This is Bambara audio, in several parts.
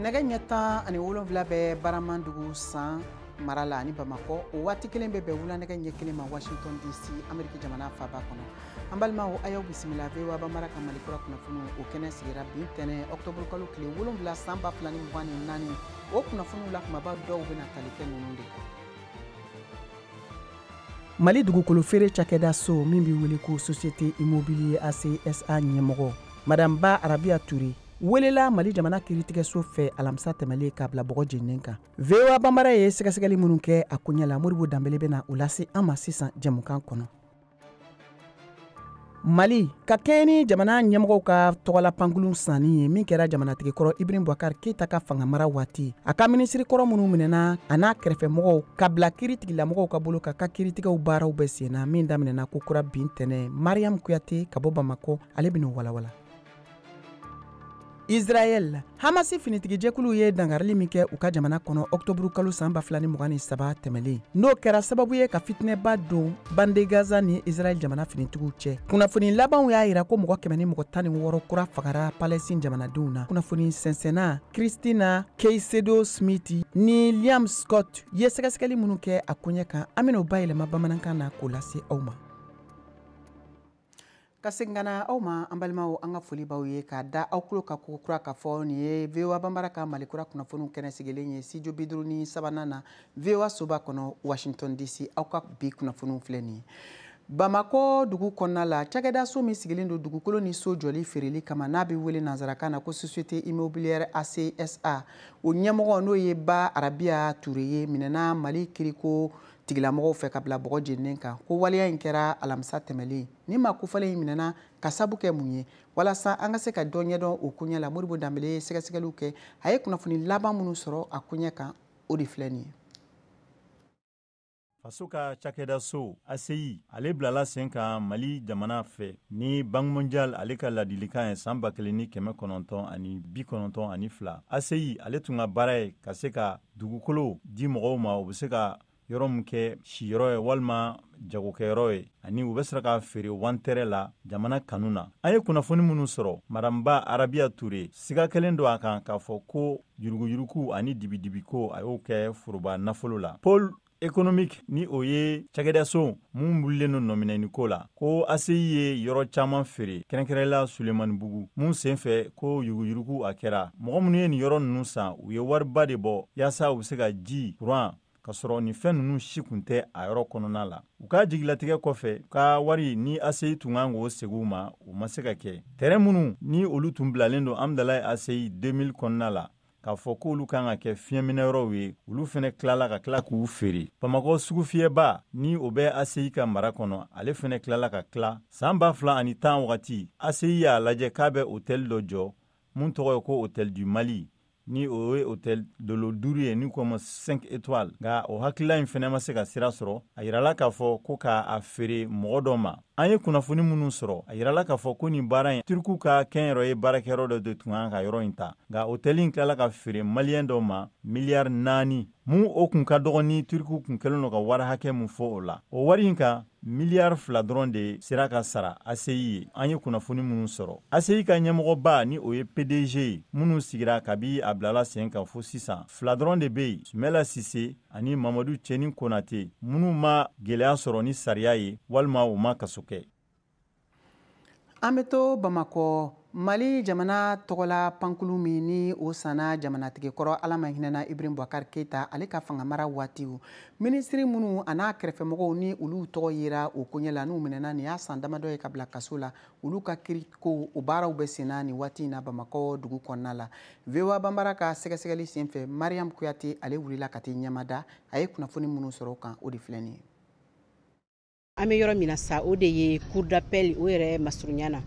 nɛgɛ ɲɛ tan ani wolonwula bɛ baramandugu san mara la ani bamakɔ o waati kelen bɛ bɛn wulanɛgɛ ɲɛ kelen ma washington dc ameriki jamana faba kɔnɔ an balimaw a y'aw bisimila voa banbara ka mali kura kunnafoniw kɛnɛ sigira bi tɛnɛ ɔktɔburu kalo tile wolonwula san ba fila ni mugan ni naani o kunnafoniw la kumaba dɔw bɛna tali kɛ ninnu de kan mali dugukolo feere cakɛda so min bɛ wele ko société immobilière aci sa ɲɛmɔgɔ madame ba arabiya ture welela mali jamana kiritigɛso fɛ alamisa tɛmɛlen k'a bila bɔgɔ jeninen kan voa banbara ye sɛgɛsɛgɛli minnu kɛ a koɲɛ la modibo danbele bɛna o lase an ma sisan jɛmukan kɔnɔ mali ka kɛɲɛ ni jamana ɲɛmɔgɔw ka tɔgɔla pankurun sanni ye min kɛra jamanatigikɔrɔ ibrahim bubakar keyita ka fangamara waati a ka minisirikɔrɔ minnu minɛna a n'a kɛrɛfɛmɔgɔw ka bila kiritigilamɔgɔw ka bolo ka ka kiritigɛw baaraw bɛ senna min daminɛna ko kura bi tɛnɛ mariam kuyate ka bɔ bamakɔ ale bɛn'o walawala israɛl hamasi finitigijɛkulu ye dangarili min kɛ u ka jamana kɔnɔ ɔktɔburu kalo san ba fila ni mugan ni saba tɛmɛlen n'o kɛra sababu ye ka fitinɛba don bande gaza ni israɛl jamana finitigiw cɛ kunnafoni labanw y'a yira ko mɔgɔ kɛmɛ ni mɔgɔ tan ni wɔɔrɔ kura fagara palɛstin jamanadenw na kunnafoni sɛnsɛnna cristina caicedo smit ni liam scott ye sɛgɛsɛgɛli minnu kɛ a koɲɛ kan an bɛn'o bayɛlɛma bamanankan na k'o lase aw ma ka segin ka na aw ma an balimaw an ka foli b'aw ye k'a da aw tulo ka ko kura k'a fɔ nin ye voa banbara ka mali kura kunnafoniw kɛnɛ sigilen ye studio bi duuru ni sabanan na voa soba kɔnɔ washington dc aw ka bi kunnafoniw filɛ nin ye bamakɔ dugu kɔnɔna la cakɛda so min sigilen don dugukolo ni so jɔli feereli kama n'a bɛ wele nansarakan na ko société immobilière aci sa o ɲɛmɔgɔ n'o ye ba arabiya ture ye minɛna mali kiriko tigilamɔgɔw fɛ ka bila bɔgɔ jeninen kan ko waleya in kɛra alamisa tɛmɛlen ni maa kofɔlen in minɛna k'a sabu kɛ mun ye walasa an ka se ka dɔ ɲɛdɔn o koɲɛ la modibo danbele ye sɛgɛsɛgɛliw kɛ a ye kunnafoni laban minnu sɔrɔ a koɲɛ kan o de filɛ nin ye faso ka cakɛda so aci ale bilala sen kan mali jamana fɛ ni banki mondial ale ka ladilikan ye san ba kelen ni kɛmɛ kɔnɔntɔn ani bi kɔnɔntɔn ani fila aci ale tun ka baara ye ka se ka Dugukolo di mɔgɔw ma u bɛ se ka yɔrɔ min kɛ siyɔrɔ ye walima jagokɛyɔrɔ ye ani u bɛ sera ka feere wantɛrɛ la jamana kanu na an ye kunnafoni minnu sɔrɔ madame ba arabiya ture siga kɛlen don a kan k'a fɔ ko yuruguyurugu ani dibidibiko a y'o kɛ foroba nafolo la économique ni o ye cakɛdaso min wulilen no nɔminɛni ko la ko aseyi ye yɔrɔ caaman feere kɛrɛnkɛrɛnla sulemani bugu mun sen fɛ ko yuruguyurugu a kɛra mɔgɔ minnu ye nin yɔrɔ nunu san u ye wariba de bɔ yaasa u be se ka ji kuran ka sɔrɔ nin fɛn nunu si kun tɛ a yɔrɔ kɔnɔna la u ka jigilatigɛ kɔfɛ u ka wari ni aseyi tun kan k'o segi u ma u ma se ka kɛ tɛrɛn minnu ni olu tun bilalen don amdalayi aseyi 2000 kɔnɔna la k'a fɔ k'olu kan ka kɛ fiɲɛminɛyɔrɔw ye olu fana tilala ka tila k'u feere bamakɔ sugufiyɛba ni o bɛ aseyi ka mara kɔnɔ ale fana tilala ka tila san ba fila ani tan wagati aseyi y'a lajɛ k'a bɛ otɛli dɔ jɔ mun tɔgɔ ye ko otɛli du mali ni o ye otɛli dolo duuru ye n'u k'o ma 5 étoiles nka o hakilila in fana ma se ka sira sɔrɔ a yirala k'a fɔ ko k'a feere mɔgɔ dɔ ma an ye kunnafoni minnu sɔrɔ a yirala k'a fɔ ko nin baara in turkuw ka kɛnyɛrɛye baarakɛyɔrɔ dɔ de tun kan ka yɔrɔ in ta nka hotɛli in tilala ka feere maliyɛn dɔ ma miliyari naani mun o kun ka dɔgɔ ni turkuw kun kɛlen don ka wari hakɛ min fɔ o la o wari in kan miliyari fila dɔrɔn de sera ka sara aseyi ye an ye kunnafoni minnu sɔrɔ aseyi ka ɲɛmɔgɔba ni o ye pdg ye minnu sigira kabi a bilala sen kan fo sisan fila dɔrɔn de bɛ yen sumɛla sise ani mamadu cɛni konate minnu ma gwɛlɛya sɔrɔ ni sariya ye walima u ma kaso kɛ an be to bamakɔ mali jamana tɔgɔla pankulu min ni o sanna jamanatigi kɔrɔ ala ma hinɛna ibrahim bubakari keita ale ka fangamara waatiw minisiri minnu an'a kɛrɛfɛmɔgɔw ni olu tɔgɔ yera o koɲɛ la n'u minɛna nin y'a san damadɔ ye ka bila kaso la olu ka kiriko o baaraw bɛ senna nin waati in na bamakɔ dugu kɔnɔna la voa banbara ka sɛgɛsɛgɛli sen fɛ mariam kuyate ale wulila ka t'i ɲɛmada a ye kunnafoni minnu sɔrɔ o kan o de filɛ nin ye an bɛ yɔrɔ min na sa o de ye cour d'appel o yɛrɛ masurunya na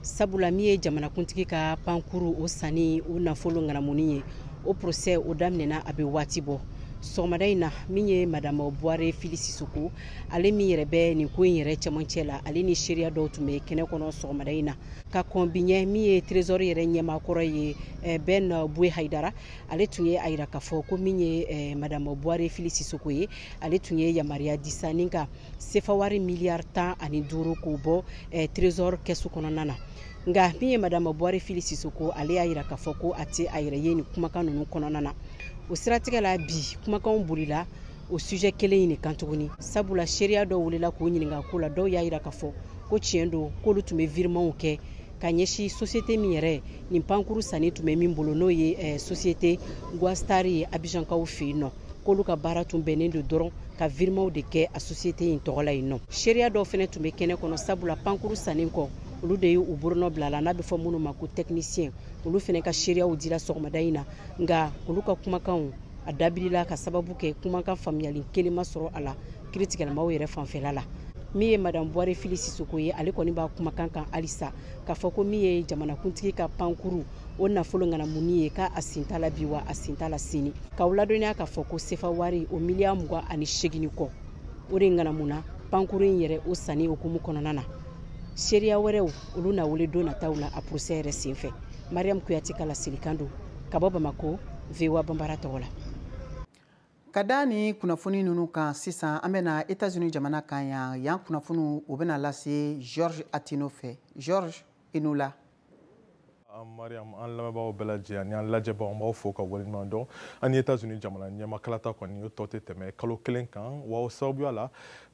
sabula min ye jamanakuntigi ka pankuru o sanni o nafolo ŋanamuni ye o procès o daminɛna a bɛ waati bɔ sɔgɔmada in na min ye madame buware fili sisoko ale min yɛrɛ bɛ nin ko in yɛrɛ cɛmancɛ la ale ni seereya dɔw tun bɛ kɛnɛ kɔnɔ sɔgɔmada in na ka kɔn bi ɲɛ min ye trésor yɛrɛ ɲɛmaakɔrɔ ye eh, ben buye haidara ale tun ye a yira k'a fɔ ko min ye eh, madame buare fili sisoko ye ale tun ye yamaruya di sa ni ka sefawari miliyari tan ani duuru k'o bɔ eh, trésor kɛsu kɔnɔna na nka min ye madame buare fili sisoko ale y'a yira k'a fɔ ko a tɛ a yɛrɛ ye nin kumakan ninnu kɔnɔna na o siratigɛ la bi kumakanw bolila o sujɛ kelen in de kan tuguni sabula seereya dɔw wulila k'o ɲininka ko la dɔw y'a yira k'a fɔ ko tiɲɛ don k'olu tun bɛ virimanw kɛ ka ɲɛsin sosiyete min yɛrɛ ni pankuru sanni tun bɛ min bolo n'o ye eh, sosiyete guo star ye abijankaw fɛ yen nɔ k'olu ka baara tun bɛnnen don dɔrɔn ka virimanw de kɛ a sosiyete in tɔgɔ la yen nɔ seereya dɔw fana tun bɛ kɛnɛ kɔnɔ sabula pankuru sannen kɔ olu de ye u bolonɔ bila la n'a bɛ fɔ minnu ma ko tɛkinisiyɛn olu fana ka seereyaw dira sɔgɔmada in na nka olu ka kumakanw a dabirila ka sababu kɛ kumakan faamuyali kelen ma sɔrɔ a la kiritigɛlamaw yɛrɛ fanfɛla la min ye madame buware fili sisoko ye ale kɔni b'a kumakan kan halisa k'a fɔ ko min ye jamanakuntigi ka pankuru o nafolo ŋanamunni ye k'a a sen t'a la bi wa a sen t'a la sini k'aw ladɔnniya k'a fɔ ko sefa wari o miliyari mugan ani segin ni kɔ o de ŋanamuna pankuru in yɛrɛ o sanni hukumu kɔnɔna na seereya wɛrɛw olu na wele don nataw la a porosɛ yɛrɛ senfɛ mariyamu kuyate ka laselikan don ka bɔ bamako voa banbara tɔgɔ la ka da ni kunnafoni nunu kan sisan an bɛna etats unis jamana kan yan yan kunnafoniw o bɛna lase georges attino fɛ georges i ni wula mariam an lamɛnbagaw bɛɛ lajɛ ani an lajɛbagaw an b'aw fo ka waleɲuman dɔn an ni etats unis jamana ɲɛmaa kalata kɔni o tɔ tɛ tɛmɛ kalo kelen kan wa o sababuya la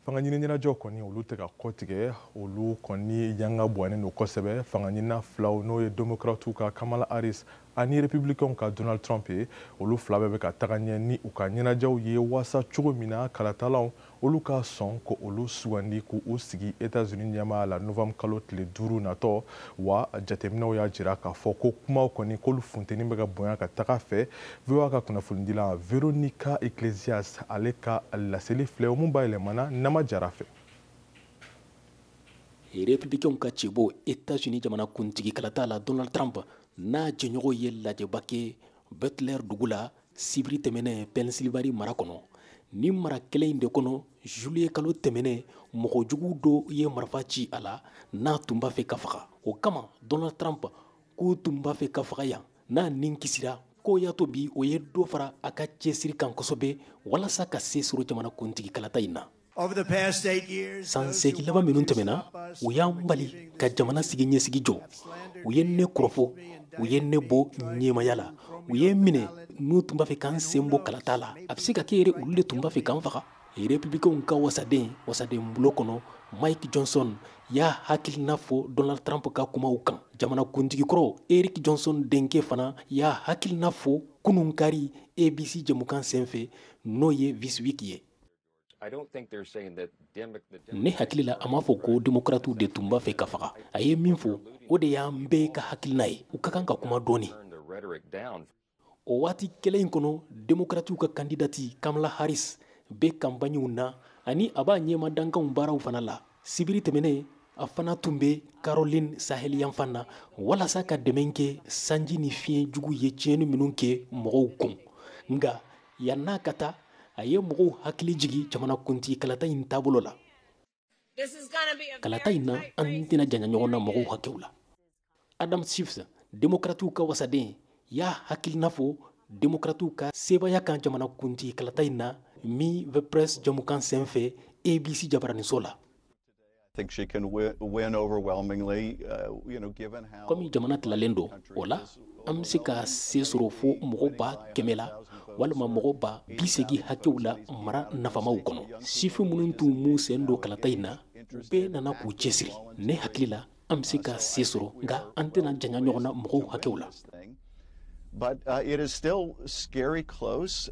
fanga ɲini ɲɛnajɛw kɔni olu tɛ ka kɔtigɛ olu kɔni yanga bɔnnen don kosɛbɛ fanga ɲinina filaw n'o ye demokratiw ka kamala harris ani republicainw ka donald trump ye olu fila bɛɛ bɛ ka taga ɲɛ ni u ka ɲɛnajɛw ye waasa cogo min na kalatalaw olu ka sɔn k'olu sugandi k'u sigi etats-unis ɲɛmaaya la novembre kalo tile duuru natɔ wa jateminɛw y'a jira k'a fɔ ko kumaw kɔni k'olu funteni bɛ ka bonya ka taga fɛ VOA ka kunnafonidila Veronica Iglesias ale ka laseli filɛ o min bayɛlɛmana Nama Jara fɛ. Republicains ka cɛbɔ Etats-Unis jamana kuntigi kalata la Donald Trump n'a jɛɲɔgɔn ye lajɛba kɛ Butler dugu la sibiri tɛmɛnen Pennsylvanie mara kɔnɔ. Nin mara kelen in de kɔnɔ juillet kalo tɛmɛnen mɔgɔ jugu dɔ ye marifa ci a la n'a tun b'a fɛ k'a faga. O kama Donald Trump k'u tun b'a fɛ k'a faga yan. n'a nin kisira k'o y'a to bi o ye dɔ fara a ka cɛsiri kan kosɛbɛ walasa ka se sɔrɔ jamana kuntigi kalata in na san seegin laban minnu tɛmɛna u y'an bali ka jamana siniɲɛsigi jɔ u ye ne kɔrɔfɔ u ye ne bɔ ɲɛmaya la u ye n minɛ n'u tun b'a fɛ ka n sen bɔ kalata la a bɛ se ka kɛ yɛrɛ olu de tun b'a fɛ ka n faga Republicainw ka wasaden wasaden bulon kɔnɔ mike johnson y'a hakilina fɔ donald trump ka kumaw kan jamanakuntigikɔrɔ eric johnson denkɛ fana y'a hakilina fɔ kunun kari abc jɛmukan senfɛ n'o ye this week ye ne hakili la a m'a fɔ ko demokratiw de tun b'a fɛ k'a faga a ye min fɔ o de y'an bɛɛ ka hakilina ye u ka kan ka kuma dɔɔnin o waati kelen in kɔnɔ demokratiw ka kandidati kamala harris bɛ kanpaɲiw na ani a b'a ɲɛmaa dankanw baaraw fana la sibiri tɛmɛnen a fana tun bɛ caroline saheli yanfan na walasa ka dɛmɛ kɛ sanji ni fiɲɛ jugu ye tiɲɛni minnu kɛ mɔgɔw kun nka yann'a ka taa a ye mɔgɔw hakili jigi jamanakuntigi kalata in taabolo la kalata in na an tɛna janya ɲɔgɔn na mɔgɔw hakɛw la adam schiff demokratiw ka wasaden y'a hakilina fɔ demokratiw ka sebaaya kan jamana kuntigi kalata in na meet the press jamukan sen fɛ abc jabaraniso la Uh, komi jamana tilalen don o la an bɛ se ka se sɔrɔ fo mɔgɔ ba kɛmɛ la walima mɔgɔ ba bi segi hakɛw la mara nafamaw kɔnɔ sifin minnu tun m'u sen don kalata in na u bɛɛ nana k'u cɛsiri ne hakili la an bɛ se ka se sɔrɔ nka an tɛna janya ɲɔgɔn na mɔgɔw hakɛw la But, uh, it is still scary close.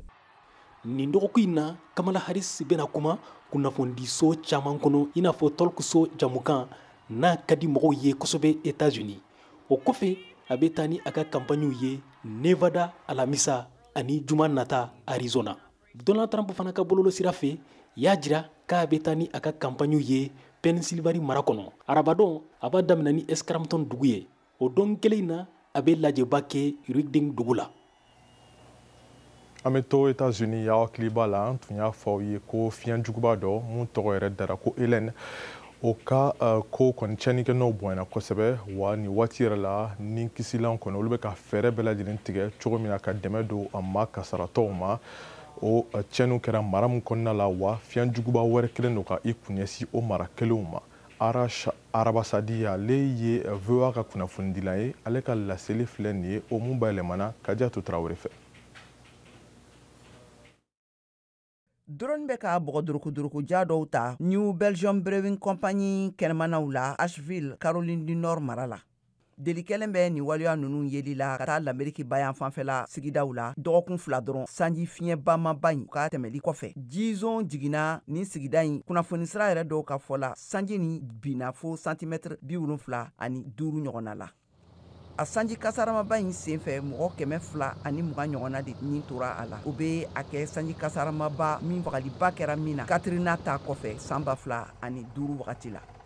nin dɔgɔkun in na kamala harris bɛna kuma kunnafonidiso caman kɔnɔ i n'a fɔ talk-show jamukan n'a ka di mɔgɔw ye kosɛbɛ etats-unis o kɔfɛ a bɛ taa ni a ka kanpaɲiw ye nevada alamisa ani juma nata arizona donald trump fana ka bɔlɔlɔ sira fɛ y'a jira k'a bɛ taa ni a ka kanpaɲiw ye pennsylvanie mara kɔnɔ arabadon a b'a daminɛ ni scranton dugu ye o don kelen na a bɛ lajɛba kɛ reading dugu la an bɛ to etats-unis y'aw hakili b'a la an tun y'a fɔ aw ye ko fiɲɛ juguba dɔ mun tɔgɔ yɛrɛ dara ko hélène o ka uh, ko kɔni cɛnikɛ nɔ bonyana kosɛbɛ wa nin waati yɛrɛ la ni kisilan kɔni olu bɛ ka fɛɛrɛ bɛɛ lajɛlen tigɛ cogo min na ka dɛmɛ don a maa kasaratɔw ma o cɛniw kɛra mara min kɔnɔna la wa fiɲɛ juguba wɛrɛ kɛlen don ka i kun ɲɛsin o mara kelenw ma Arash Arabasadi ale ye VOA ka kunnafonidilan ye ale ka laseli filɛ nin ye o mun bayɛlɛmana Kadiatu Tarawele fɛ. drone bɛ ka bɔgɔ durukuduruku ja dɔw ta new belgium brewing company kɛnɛmanaw la asheville caroline du nord mara la deli kɛlen bɛ nin waleya ninnu yeli la ka taa lameriki bayanfan fɛla sigidaw la dɔgɔkun fila dɔrɔn sanji fiɲɛ bamaba in ka tɛmɛli kɔfɛ jizon jiginna nin sigida in kunnafonisira yɛrɛ dɔw ka fɔ la sanji nin binna fo santimɛtiri bi wolonfila ani duuru ɲɔgɔnna la a sanji kasaramaba in senfɛ mɔgɔ kɛmɛ fila ani muga ɲɔgɔnna de nin tora a la o bɛ a kɛ sanji kasaramaba min fagaliba kɛra min na katrina ta kɔfɛ san ba fila ani duuru wagati la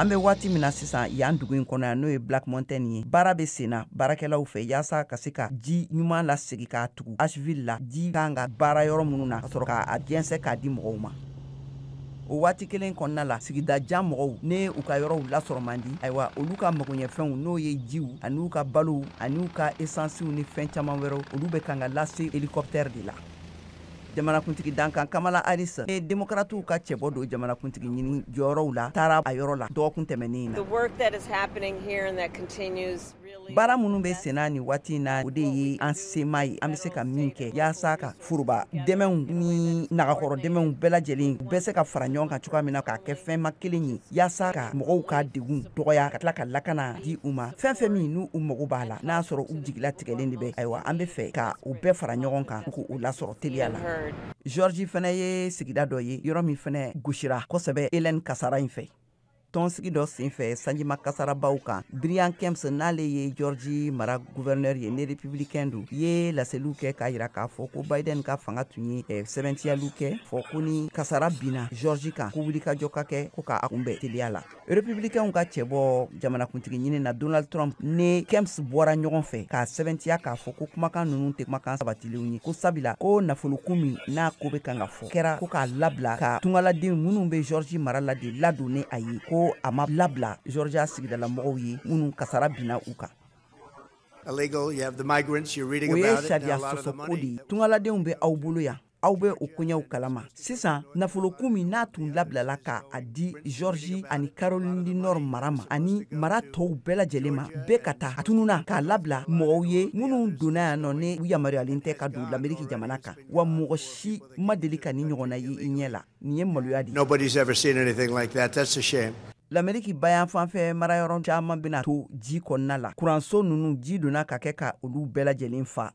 an bɛ waati min na sisan yan dugu in kɔnɔ yan n'o ye black mountain ye baara bɛ senna baarakɛlaw fɛ yaasa ka se ka ji ɲuman lasegi k'a tugu asheville la ji kan ka baara yɔrɔ minnu na ka sɔrɔ k'a jɛnsɛ k'a di mɔgɔw ma o waati kelen kɔnɔna la sigida jan mɔgɔw ne u ka yɔrɔw lasɔrɔ man di ayiwa olu ka magoɲɛfɛnw n'o ye jiw ani u ka balow ani u ka esansiw ni fɛn caman wɛrɛw olu bɛ kan ka lase helikɔptɛri de la jamanakuntigi dankan kamala harris ni demokratiw ka cɛbɔ don jamanakuntigi ɲini jɔyɔrɔw la taara a yɔrɔ la dɔgɔkun tɛmɛnen na baara minnu bɛ senna nin waati in na o de ye an sema ye an bɛ se ka min kɛ yaasa ka foroba dɛmɛw ni nagakɔrɔ dɛmɛw bɛɛ lajɛlen u bɛ se ka fara ɲɔgɔn kan cogoya min na k'a kɛ fɛnma kelen ye yaasa ka mɔgɔw ka degun dɔgɔya ka tila ka lakana di u ma fɛn fɛn min n'u mago b'a la n'a sɔrɔ u jigila tigɛlen de bɛ ayiwa an bɛ fɛ ka u bɛɛ fara ɲɔgɔn kan k'u lasɔrɔ teliya la georgi fana ye sigida dɔ ye yɔrɔ min fana gosira kosɛbɛ hélène kasara in fɛ tɔnsigi dɔ senfɛ sanjima kasarabaw kan brian kemps n'ale ye georgi mara guvɛrnɛri ye ni republikɛn don ye laseliw kɛ k'a jira k'a fɔ ko biden ka fanga tun ye eh, sɛbɛntiyaliw kɛ fɔ ko ni kasara binna georgi kan ko wulikajɔ ka kɛ ko k'a kunbɛn teliya la republikɛnw ka cɛbɔ jamanakuntigi ɲini na donald trump ni kemps bɔra ɲɔgɔn fɛ k'a sɛbɛntiya k'a fɔ ko kumakan ninnu tɛ kumakan sabatilenw ye ko sabila ko nafolokun min n'a ko bɛ kan ka fɔ kɛra ko k'a labila ka tungaladen minnu bɛ georgi mara la de ladon ni a ye ko a ma labila georgia sigidalamɔgɔw ye minnu kasara binna u kan o ye sariya sɔsɔko de ye tungaladenw bɛ aw bolo yan aw bɛ o koɲɛw kalama sisan nafolokun min n'a tun labilala ka a di georgi ani caroline du nord mara ma ani mara tɔw bɛɛ lajɛlen ma bɛɛ ka ta a tununna k'a labila mɔgɔw ye minnu donna yan nɔ ni u yamaruyalen tɛ ka don lameriki jamana kan wa mɔgɔ si ma deli ka nin ɲɔgɔnna ye i ɲɛ la nin ye maloya di lameriki bayanfan fɛ marayɔrɔ caman bɛna to ji kɔnɔna la kuranso ninnu ji donna ka kɛ ka olu bɛɛ lajɛlen fa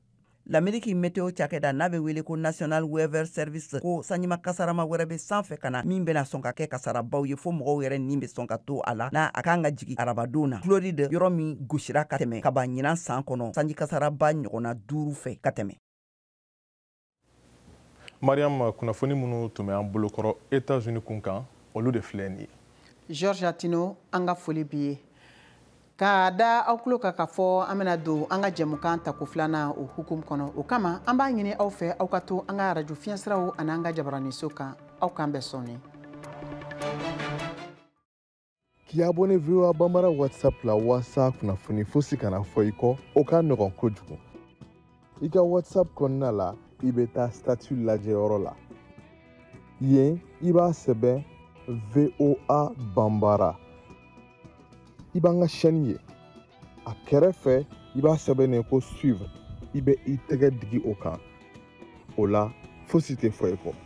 lameriki meteo cakɛda n'a be wele ko national weather service ko sanjima kasarama wɛrɛ be san fɛ ka na min bena sɔn ka kɛ kasarabaw ye fo mɔgɔw yɛrɛ nin be sɔn ka to a la n'a a kan ka jigin arabadon na floride yɔrɔ min gosira ka tɛmɛ ka ban ɲinan saan kɔnɔ sanji kasaraba ɲɔgɔnna duuru fɛ ka tɛmɛ mariam kunnafoni minnu tun bɛ an bolokɔrɔ etats-unis kun kan olu de filɛ nin ye george atino an ka foli b'i ye K'a da aw tulo kan k'a fɔ an bɛna don an ka jɛmukan tako filanan o hukumu kɔnɔ o kama an b'a ɲini aw fɛ aw ka to an ka arajo fiɲɛsiraw ani an ka jabaraninso kan aw k'an bɛn sɔɔni k'i abonné VOA Bambara WhatsApp la walasa kunnafoni fosi kana fɔ i kɔ o ka nɔgɔn kojugu i ka whatsapp kɔnɔna la i bɛ taa statut lajɛyɔrɔ la yen i b'a sɛbɛn voa bambara i b'an ka chaîne ye a kɛrɛfɛ i b'a sɛbɛnnen ko suivre i bɛ i tɛgɛ digi o kan o la fosi tɛ fɔ i kɔ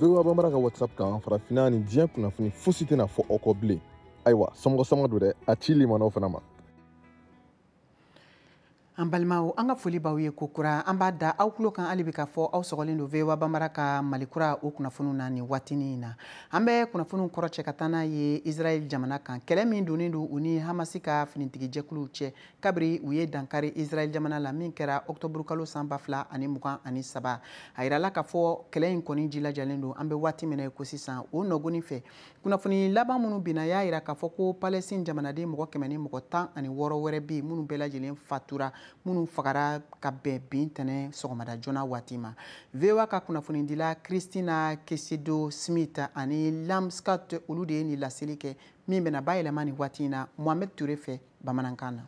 voa bamara ka whatsapp kan farafinna ni diɲɛ kunnafoni fosi tɛna fɔ aw kɔ bilen ayiwa somɔgɔ sama don dɛ a ci limanaw fana ma an balimaw an ka foli b'aw ye ko kura an b'a da aw tulo kan hali bi k'a fɔ aw sɔgɔlen don voa bamara ka mali kura o kunnafoniw na nin waatinin in na an bɛ kunnafoniw kɔrɔcɛ ka taa n'a ye israɛl jamana kan kɛlɛ min donnen don u ni hamasi ka finitigijɛkuluw cɛ kabiri u ye dankari israɛl jamana la min kɛra ɔktɔburukalo san ba fila ani mugan ani saba a yirala k'a fɔ kɛlɛ in kɔni jilajalen don an bɛ waati min na ko sisan o nɔgɔnin fɛ kunnafoni laban minnu binna y'a yira k'a fɔ ko palɛstin jamanaden mɔgɔ kɛmɛ ni mɔgɔ tan ani wɔɔrɔ wɛrɛ bɛ yen minnu bɛɛ lajɛlen fatura minnu fagara ka bɛn bi ntɛnɛn sɔgɔmada joona waati ma voa ka kunnafonidila cristina caicedo smit ani liam scott olu de ye nin laseli kɛ min bɛna bayɛlɛma nin waati in na mohamed ture fɛ bamanankan na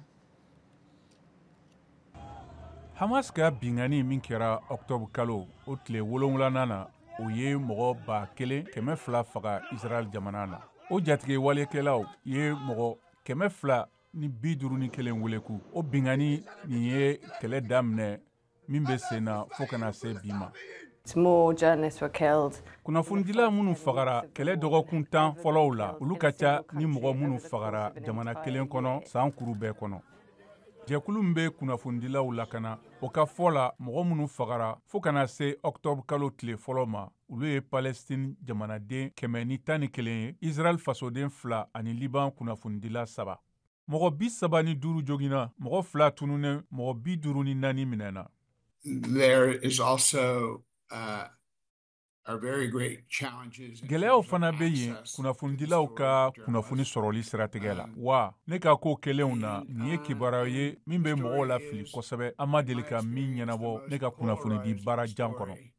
hamas ka binkanni min kɛra ɔktɔburukalo o tile wolonwulanan na o ye mɔgɔ ba kelen kɛmɛ fila faga israɛl jamana na o jatigɛwalekɛlaw ye mɔgɔ kɛmɛ fila ni bi duuru ni kelen weleku o binkanni nin ye kɛlɛ daminɛ min bɛ sen na fo ka na se bi ma kunnafonidila minnu fagara kɛlɛ dɔgɔkun tan fɔlɔw la olu ka ca ni mɔgɔ minnu fagara jamana kelen kɔnɔ san kuru bɛɛ kɔnɔ jɛkulu min bɛ kunnafonidilaw lakana o ka fɔ la mɔgɔ minnu fagara fo ka na se ɔkutɔburukalo tile fɔlɔ ma olu ye palɛsitini jamanaden kɛmɛ ni tan ni kelen ye israɛl fasoden fila ani liban kunnafonidila saba mɔgɔ bi saba ni duuru joginna mɔgɔ fila tununnen mɔgɔ bi duuru ni naani minɛna there is also uh, gɛlɛyaw fana bɛ yen kunnafonidilaw ka kunnafoni sɔrɔli siratigɛ la um, wa ne ka ko kɛlenw na nin ye uh, kibaruya ye min bɛ mɔgɔw lafili kosɛbɛ an ma deli ka min ɲɛnabɔ ne ka kunnafonidi baara jan kɔnɔ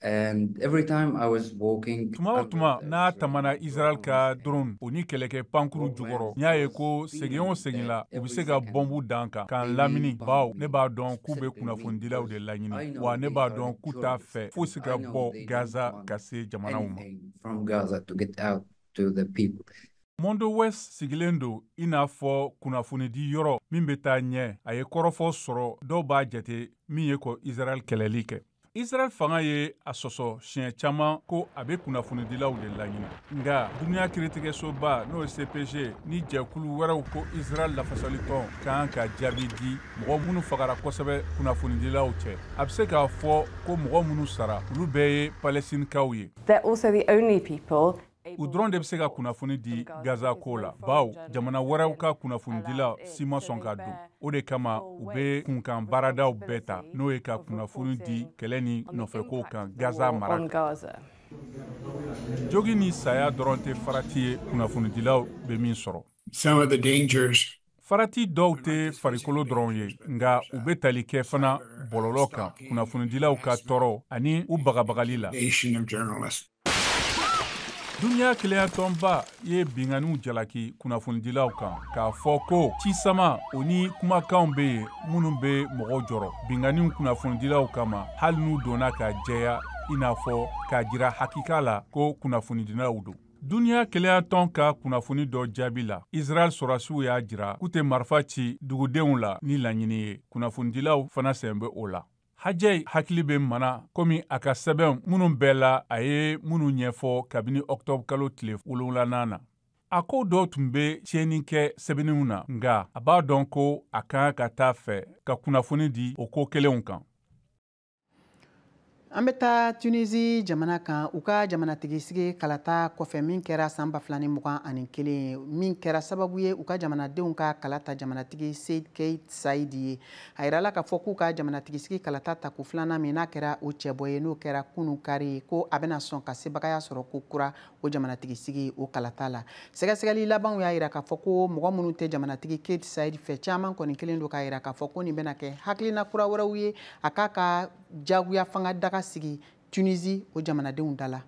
And every time I was walking, tuma o tuma n'a tamana Israel ka drone o ni kɛlɛkɛ pankurun jukɔrɔ n y'a ye ko segin o segin la u bɛ se ka bɔnbu d'an kan k'an lamini bawo ne b'a dɔn k'u bɛ kunnafonidilaw de laɲini wa ne b'a dɔn k'u t'a fɛ fosi ka bɔ Gaza ka se jamanaw ma. Mondoweiss sigilen don i n'a fɔ kunnafonidi yɔrɔ min bɛ taa ɲɛ a ye kɔrɔfɔ sɔrɔ dɔw b'a jate min ye ko Israel kɛlɛli kɛ. Israɛl fanga ye a sɔsɔ siɲɛ caman ko a bɛ kunnafonidilaw de laɲini nka duniya kiiritigɛsoba n'o ye CPJ ni jɛkulu wɛrɛw ko Israɛl lafasalitɔn ka kan ka jaabi di mɔgɔ minnu fagara kosɛbɛ kunnafonidilaw cɛ a bɛ se k'a fɔ ko mɔgɔ minnu sara olu bɛɛ ye Palɛstinikaw ye. They're also the only people u dɔrɔn de bɛ se ka kunnafoni di gaza ko la baw jamana wɛrɛw ka kunnafonidila si ma sɔn ka don o de kama u bɛ kunkan baaradaw bɛɛ ta n'o ye ka kunnafoni di kɛlɛ ni nɔfɛkow kan gaza mara jogi ni saya dɔrɔn tɛ farati ye kunnafonidilaw bɛ min sɔrɔ farati dɔw tɛ farikolo dɔrɔn ye nka u bɛ tali kɛ fana bɔlɔlɔ kan kunnafonidilaw ka tɔɔrɔ ani u bagabagali la duniya kelenyatɔnba ye binganiw jalaki kunnafonidilaw kan k'a fɔ ko cisamaw ni kumakanw bɛ yen minnu bɛ mɔgɔw jɔrɔ binganiw kunnafonidilaw kama hali n'u dɔnna ka jɛya i n'a fɔ k'a jira hakika la ko kunnafonidilaw don Duniya kelenyatɔn ka kunnafoni dɔ jaabi la, Israɛl sɔrasiw y'a jira k'u tɛ marifa ci dugudenw la ni laɲini ye. Kunnafonidilaw fana sen bɛ o la. Hajjaj hakili bɛ maana komi a ka sɛbɛnw minnu bɛɛ la, a ye minnu ɲɛfɔ kabini octobre kalo tile wolonwulanan na. A ko dɔw tun bɛ tiɲɛni kɛ sɛbɛnniw na, nka a b'a dɔn ko a ka kan ka taa fɛ ka kunnafoni di o ko kelenw kan. an bɛ taa tunisi jamana kan u ka jamanatigisigi kalata kɔfɛ min kɛra san ba fila ni mugan ani kelen min kɛra sababu ye u ka jamanadenw ka kalata jamanatigi kais saidi ye a yirala k'a fɔ k'u ka jamanatigisigi kalata tako filanan min n'a kɛra o cɛbɔ ye n'o kɛra kunu kari ko a bɛna sɔn ka sebagaya sɔrɔ ko kura o jamanatigisigi o kalata la sɛgɛsɛgɛli labanw y'a yira k'a fɔ ko mɔgɔ minnu tɛ jamanatigi kais sayid fɛ caman kɔni kelen don k'a yira k'a fɔ ko nin bɛna kɛ hakilina kura wɛrɛw ye a k'a ka jagoyafanga daga sigi tunisi o jamanadenw da la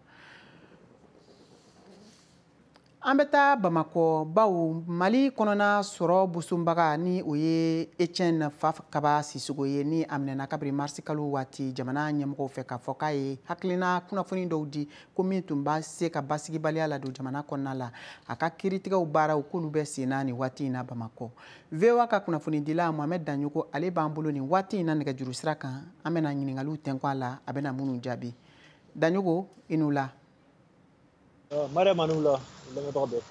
an bɛ taa bamakɔ baw mali kɔnɔna sɔrɔ bosobaga ni o ye etiɛne fakaba sisogo ye ni a minɛna kabiri marisi kalo waati jamana ɲɛmɔgɔw fɛ k'a fɔ k'a ye hakilina kunnafoni dɔw di ko min tun b'a se ka basigibaliya ladon jamana kɔnɔna la a ka kiritigɛw baaraw k'olu bɛ sen na nin waati in na bamakɔ voa ka kunnafonidila mohamɛd danyogo ale b'an bolo nin waati in na nɛgɛjuru sira kan an bɛna ɲiningaliw tɛnku a la a bɛna minnu jaabi danyogo i ni wula mariama ni wula lamɛnbaga bɛɛ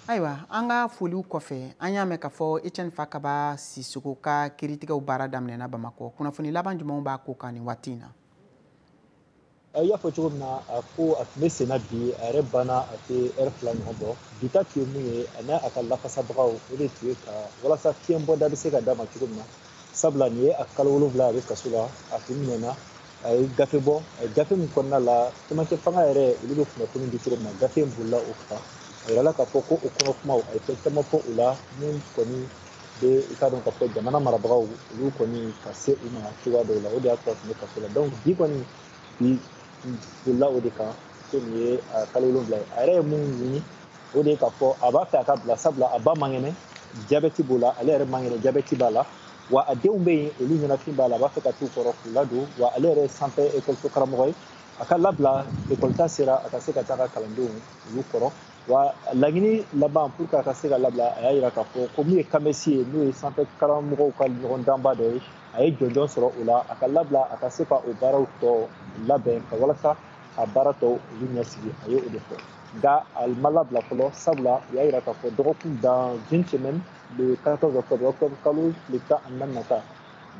ayiwa an ka foliw kɔfɛ an y'a mɛn k'a fɔ etiɛne fakaba sisogo ka kiritigɛw baara daminɛna bamakɔ kunnafoni laban jumɛnw b'a ko kan nin waati in na i y'a fɔ cogo min na a ko a tun bɛ senna bi a yɛrɛ banna a tɛ ɛri fila ɲɔgɔn bɔ bi ta tun ye mun ye ani a ka lafasabagaw o de tun ye ka walasa fiɲɛbɔda bɛ se ka d'a ma cogo min na sabula nin ye a kalo wolonwula a bɛ kaso la a tun minɛna a ye gafe bɔ gafe min kɔnɔna la cɛmancɛ fanga yɛrɛ olu bɛ kunnafoni di cogo min na gafe in bolila o kan a yirala k'a fɔ ko o kɔnɔ kumaw a ye fɛn caman fɔ o la min kɔni bɛ i k'a dɔn k'a fɔ jamana marabagaw olu kɔni ka se u ma cogoya dɔw la o de y'a to a tun bɛ kaso la donc bi kɔni bi bolila o de kan ko nin ye kalo wolonwula ye a yɛrɛ ye mun ɲini o de ye k'a fɔ a b'a fɛ a ka bila sabula a ba man kɛnɛ jabɛti b'o la ale yɛrɛ man kɛnɛ jabɛti b'a la wa a denw bɛ yen olu ɲɛnafin b'a la a b'a fɛ ka t'u kɔrɔ k'u ladon wa ale yɛrɛ ye sanfɛ ekɔliso karamɔgɔ ye a ka labila ekɔlita sera a ka se ka taa a ka kalandenw olu kɔrɔ wa laɲini laban pour que a ka se ka labila a y'a yira k'a fɔ ko min ye kamesi ye n'o ye sanfɛ karamɔgɔw ka ɲɔgɔndanba dɔ ye a ye jɔnjɔn sɔrɔ o la a ka labila a ka se ka o baaraw tɔ labɛn ka walasa a baara tɔw olu ɲɛsigi a ye o de fɔ nka a ma labila fɔlɔ sabula u y'a yira k'a fɔ dɔgɔkun dans une semaine le 14 octobre octobre kalo tile tan ani naani nata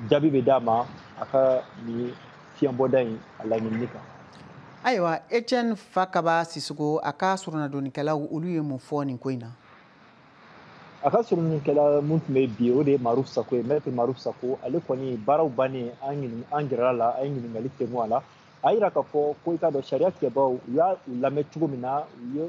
jaabi bɛ d'a ma a ka nin fiɲɛbɔda in a laɲinini kan ayiwa etienne fakaba sisoko a ka soronadonnikɛlaw olu ye mun fɔ nin ko in na a ka soronadonnikɛla min tun bɛ bi o de ye maruf sako ye maître maruf sako ale kɔni baaraw bannen an gɛrɛla a la an ye ɲininkali tɛnku a la a y'a yira k'a fɔ ko i k'a dɔn sariya tigɛbaaw u y'u lamɛn cogo min na u ye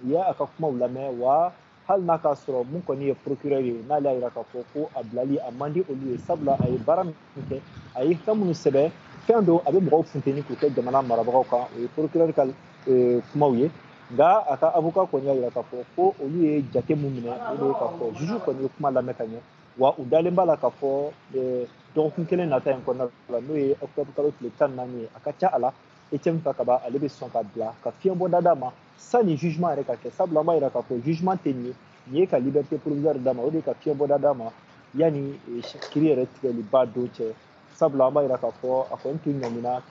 u ye a ka kumaw lamɛn wa hali n'a k'a sɔrɔ mun kɔni ye procureur ye n'ale y'a yira k'a fɔ ko a bilali a man di olu ye sabula a ye baara min kɛ a ye fɛn minnu sɛbɛn fɛn don a bɛ mɔgɔw funteni k'u kɛ jamana marabagaw kan o ye procureur ka eh, kumaw ye nka a ka avocat kɔni y'a yira k'a fɔ ko olu ye jate min minɛ o de ye k'a fɔ juge kɔni ye kuma lamɛn ka ɲɛ wa u dalen b'a la k'a fɔ eh, dɔgɔkun kelen nata in kɔnɔna la n'o ye octobre kalo tile tan ni naani ye a ka ca a la etienne fakaba ale bɛ sɔn ka bila ka fiɲɛbɔda d'a ma sani jugement yɛrɛ ka kɛ sabula an b'a yira k'a fɔ jugement tɛ nin ye nin ye ka liberté provisoire d'a ma o de ye ka fiɲɛbɔda d'a ma yanni kiri yɛrɛ tigɛliba don cɛ sabula an b'a yira k'a fɔ a kɔni tun ɲanina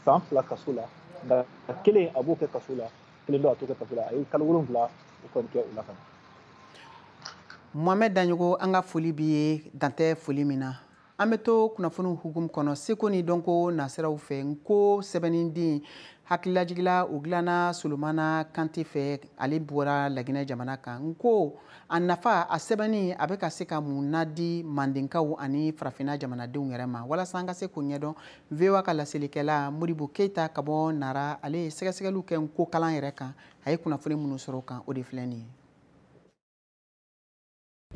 san fila kaso la nka kelen a b'o kɛ kaso la kelen dɔ a t'o kɛ kaso la a ye kalo wolonwula o kɔni kɛ o la ka na mohamɛd daɲɔgɔ an ka foli b'i ye dan tɛ foli min na an bɛ to kunnafoniw hukumu kɔnɔ seko ni dɔnko nasiraw fɛ nko sɛbɛnninden hakililajigila o dilanna solomana kante fɛ ale bɔra laginɛ jamana kan nko a nafa a sɛbɛnni a bɛ ka se ka mun na di mandenkaw ani farafinna jamanadenw yɛrɛ ma walasa an ka se k'o ɲɛdɔn voa ka laselikɛla modibo keyita ka bɔ nara ale ye sɛgɛsɛgɛliw kɛ nko kalan yɛrɛ kan a ye kunnafoni minnu sɔrɔ o kan o de filɛ nin ye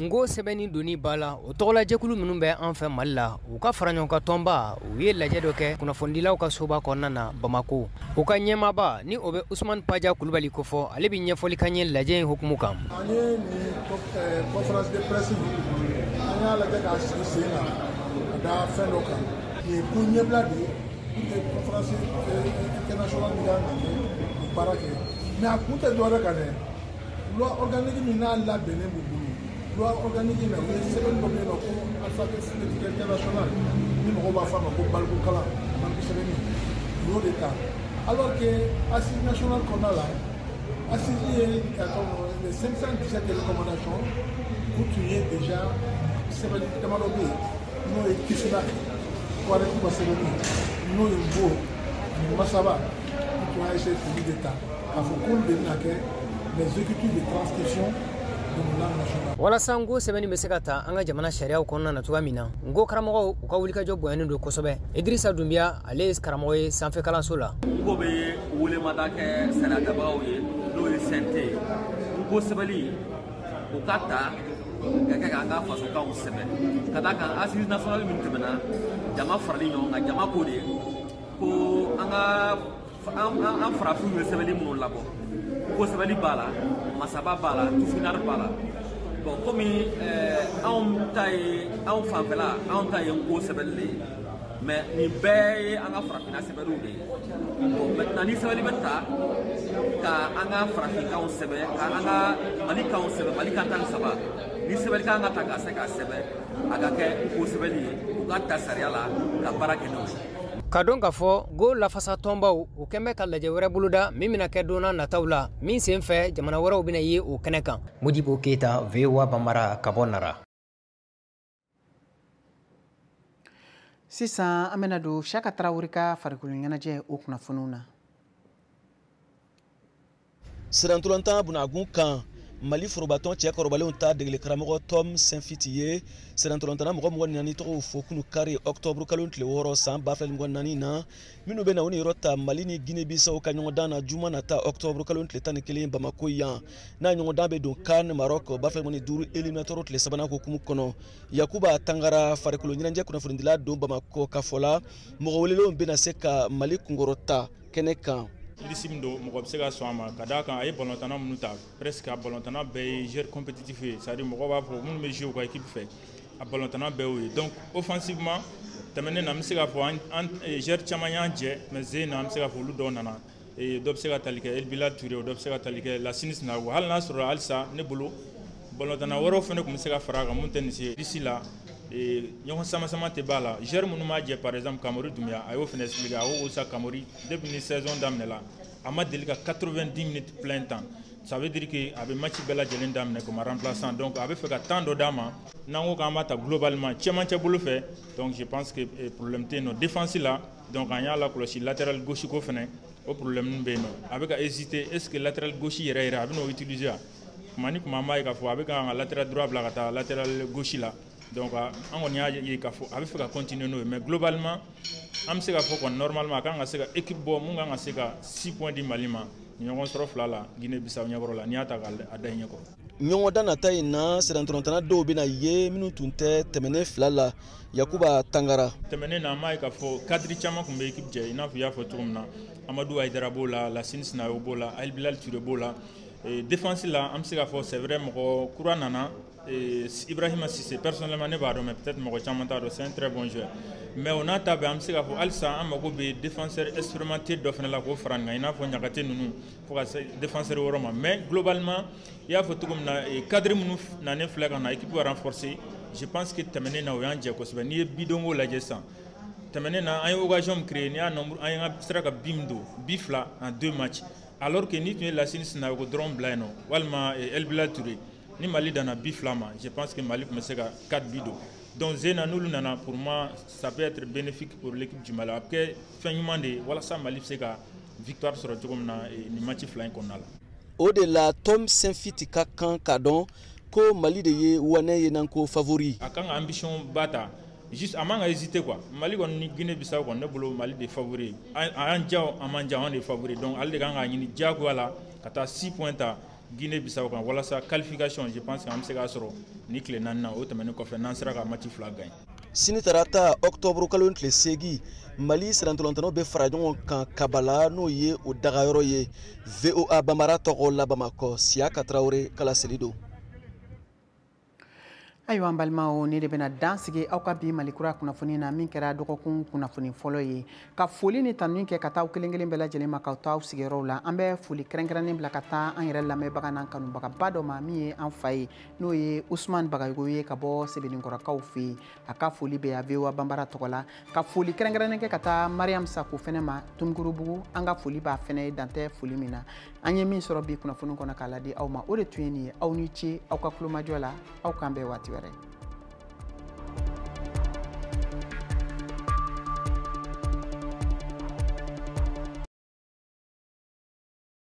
nko sɛbɛnni donni ba la o tɔgɔlajɛkulu minnu bɛ an fɛ mali la u ka faraɲɔgɔnkan tɔnba u ye lajɛ dɔ kɛ kunnafonidilaw ka soba kɔnɔna na bamako u ka ɲɛmaaba ni o bɛ usumani paja kulubali kofɔ ale bɛ ɲɛfɔli k'an ye lajɛ in hukumu kan an ye nin conférence de presse an y'a lajɛ k'a sigi sen na ka da fɛn dɔ kan nin ye ko ɲɛbila de ye pour que conférence internationale min kan ka kɛ baara kɛ mais a kun tɛ dɔwɛrɛ kan dɛ loi organique min n'a labɛnnen b'u bolo loi organique in na u ye sɛbɛnni dɔ bɛ yen n'u ko alphabet phonétique international ni mɔgɔw b'a fɔ a ma ko balikukalan baliku sɛbɛnni u y'o de ta alors que assise nationale kɔnɔna la assise ye les 517 recommandations u tun ye déjà sɛbɛnni damadɔ bɛ yen n'o ye kisila wari kuma sɛbɛnni n'o ye n ko masaba u tun y'a essayer k'olu de ta k'a fɔ k'olu de bɛna kɛ les écritures de transcription des langues nationales walasa n ko sɛbɛnni bɛ se ka ta an ka jamana sariyaw kɔnɔna na cogoya min na n ko karamɔgɔw u ka wulikajɔ bonyanen don kosɛbɛ idirisa dunbiya ale ye karamɔgɔ ye sanfɛ kalanso la n ko bɛ welemada kɛ sariyatabagaw ye n'o ye CNT ye n ko sɛbɛnni u k'a ta k'a kɛ k'an ka fasokanw sɛbɛn ka d'a kan assise nationale min tɛmɛna jama farali ɲɔgɔn kan jama ko de ko an ka an farafinw ye sɛbɛnni minnu labɔ n ko sɛbɛnni b'a la masaba b'a la tifinari b'a la bon comme anw ta ye anw fanfɛla anw ta ye n ko sɛbɛnni de ye mais nin bɛɛ ye an ka farafinna sɛbɛnniw de ye bon maintenant ni sɛbɛnni bɛ ta ka an ka farafinkanw sɛbɛn ka an ka mali kanw sɛbɛn mali kan tan ni saba ni sɛbɛnni ka kan ka ta ka se ka sɛbɛn a ka kɛ n ko sɛbɛnni ye u ka ta sariya la ka baara kɛ n'o ye k'a dɔn k'a fɔ n ko lafasa tɔnbaw u kɔni bɛ ka lajɛ wɛrɛ boloda min bɛna kɛ donna nataw la min sen fɛ jamana wɛrɛw bɛna ye o kɛnɛ kan modibo keyita voa banbara ka bɔ nara sisan an bɛna don siyaka tarawele ka farikolo ɲɛnajɛ o kunnafoniw na sennantolatan bunagun kan mali forobatɔn cɛ kɔrɔbalenw ta degeli karamɔgɔ tom saintfiet ye sennantolatanna mɔgɔ mugan ni naani tɔgɔw fɔ kunu kari ɔktɔburu kalo tile wɔɔrɔ san ba fila ni mugan ni naani na minnu bɛna u niyɔrɔ ta mali ni guinée bissau ka ɲɔgɔndan na juma nata ɔktɔburu kalo tile tan ni kelen bamako yan n'a ɲɔgɔndan bɛ don CAN maroc ba fila mugan ni duuru éliminatoire tile sabanan hukumu kɔnɔ yakuba tangara farikolo ɲɛnajɛ kunnafonidila don bamako a ka fɔ la mɔgɔ welelenw bɛna se ka mali kunkɔrɔta kɛnɛ kan liste min don mɔgɔ bɛ se ka sɔn a ma ka d'a kan a ye balontanna minnu ta presque a balontanna bɛɛ ye joueur compétitif ye c'est à dire mɔgɔw b'a fɔ minnu bɛ jouer u ka équipe fɛ a balontanna bɛɛ y'o ye donc offensivement tɛmɛnen na an bɛ se k'a fɔ an joueur caman y'an jɛ mais sen in na an bɛ se k'a fɔ olu dɔw nana dɔ bɛ se ka tali kɛ El Bilal Ture dɔ bɛ se ka tali kɛ Lasini Sinayoko hali n'a sɔrɔ halisa ne bolo balontanna wɛrɛw fana tun bɛ se ka fara a kan mun tɛ nin se d'ici là ɲɔgɔn sama sama tɛ b'a la joueur minnu b'a jɛ par exemple kamori dunbiya a y'o fana expliqué a ko sa kamori depuis ni saison daminɛ la a ma deli ka 90 minutes plein temps ça veut dire que a bɛ match bɛɛ lajɛlen daminɛ comme remplaçant donc a bɛ fɛ ka temps dɔ d'a ma n'an ko k'an b'a ta globalement cɛmancɛ bolo fɛ donc je pense que eh, problème tɛ yen nɔ défense la donc an y'a lakɔlɔsi latéral gauche ko fana o problème bɛ yen nɔ a bɛ ka hésiter est ce que latéral gauche yɛrɛ yɛrɛ a bɛ n'o utiliser wa kuma ni kuma an b'a ye k'a fɔ a bɛ ka an ka latéral droit bila ka taa latéral gauche la donc an kɔni y'a ye k'a fɔ a bɛ fɛ ka continuer n'o ye mais globalement an bɛ se k'a fɔ kɔni normalement a kan ka se ka équipe bɔ mun kan ka se ka 6 points di Mali ma ɲɔgɔn sɔrɔ fila la Guinée Bissau ɲɛkɔrɔ la n'i y'a ta k'a da i ɲɛkɔrɔ. ɲɔgɔndan nata in na sennantolatanna dɔw bɛna ye minnu tun tɛ tɛmɛnen fila la yakuba tangara tɛmɛnen na an b'a ye k'a fɔ cadre caman tun bɛ équipe jɛ i n'a fɔ i y'a fɔ cogo min na amadu ayidara b'o la lasini sinayogo b'o la elibilali ture b'o la Eh, défense la an bɛ se k'a fɔ c'est vrai mɔgɔ kura nana eh, Ibrahima Sise personnellement ne b'a dɔn mais peut-être mɔgɔ caman t'a dɔn c'est un très bon joueur mais o n'a ta bɛɛ an bɛ se k'a fɔ halisa an mago bɛ défenseur expérimenté dɔ fana la k'o fara nin kan i n'a fɔ ɲagate ninnu fo ka se défenseur wɔɔrɔ ma mais globalement i y'a fɔ cogo min na eh, cadre minnu nanen filɛ ka na équipe ka renforcer je pense que tɛmɛnen na o y'an jɛ kosɛbɛ n'i ye bidonko lajɛ sisan tɛmɛnen na an ye occasion min créer n'i y'a nombre an ye sera ka bi min don bi fila en deux matchs alors que n'i tun ye lasini sinayogo dɔrɔn bila yen nɔ walima eh, elbilal ture ni mali danna bi fila ma je pense que mali tun bɛ se ka 4 bi don donc zena n'olu nana pour moi ça peut être bénéfique pour l'équipe du mali a bɛ kɛ fɛn ɲuman de ye walasa mali bɛ se ka victoire sɔrɔ cogo min na eh, nin match fila in kɔnɔna la o de la tom senfiti ka kan k'a dɔn ko mali de ye wanɛ ye n'an ko favori a kan ka ambition ba ta juste a man ka hésiter quoi mali kɔni ni guinée bissau kɔni ne bolo mali de favori a y'an diya o a m'an diya an de favori donc ale de kan k'a ɲini diyagoya la ka taa six points ta guinée bissau kan walasa qualification je pense que an bɛ se k'a sɔrɔ nin tile naani na o tɛmɛnen kɔfɛ n'an sera ka match fila gagner sini tarata ɔktɔburu kalo tile seegin mali sennantolatannaw bɛ fara ɲɔgɔn kan kabala n'o ye o dagayɔrɔ ye voa banbara tɔgɔ la bamakɔ siyaka tarawele ka laseli don ayiwa an balimaw nin de bɛna dan sigi aw ka bi mali kura kunnafoni na min kɛra dɔgɔkun kunnafoni fɔlɔ ye ka foli ni tanuni kɛ ka taa aw kelen kelen bɛɛ lajɛlen ma k'aw to aw sigiyɔrɔw la an bɛ foli kɛrɛnkɛrɛnnen bila ka taa an yɛrɛ lamɛnbaga n'an kanubagaba dɔ ma min ye an fa ye n'o ye usumani bagayogo ye ka bɔ sebeninkɔrɔkaw fɛ yen an ka foli b'a ye voa banbara tɔgɔ la ka foli kɛrɛnkɛrɛnnen kɛ ka taa mariam sako fɛnɛ ma tomikɔrɔbugu an ka foli b'a fɛnɛ ye dan tɛ foli min na an ye min sɔrɔ bi kunnafoni kɔnɔ k'a ladi aw ma o de tun ye nin ye aw ni ce aw ka kulomajɔ la aw k'an bɛn waati wɛrɛ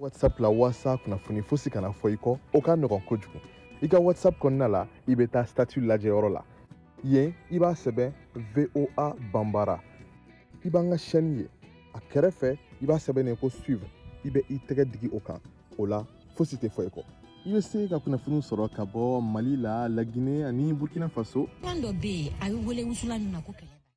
whatsapp la walasa kunnafoni fosi kana fɔ i kɔ o ka nɔgɔn kojugu i ka whatsapp kɔnɔna la i bɛ taa statut lajɛyɔrɔ la yen i b'a sɛbɛn voa banbara i b'an ka chaîne ye a kɛrɛfɛ i b'a sɛbɛnnen ko suivre i bɛ i tɛgɛ digi o kan o la fosi tɛ fɔ i kɔ i bɛ se ka kunnafoniw sɔrɔ ka bɔ mali la lagine ani burkina faso kan dɔ bɛ yen a bɛ wele wusulan min ma ko kɛlɛ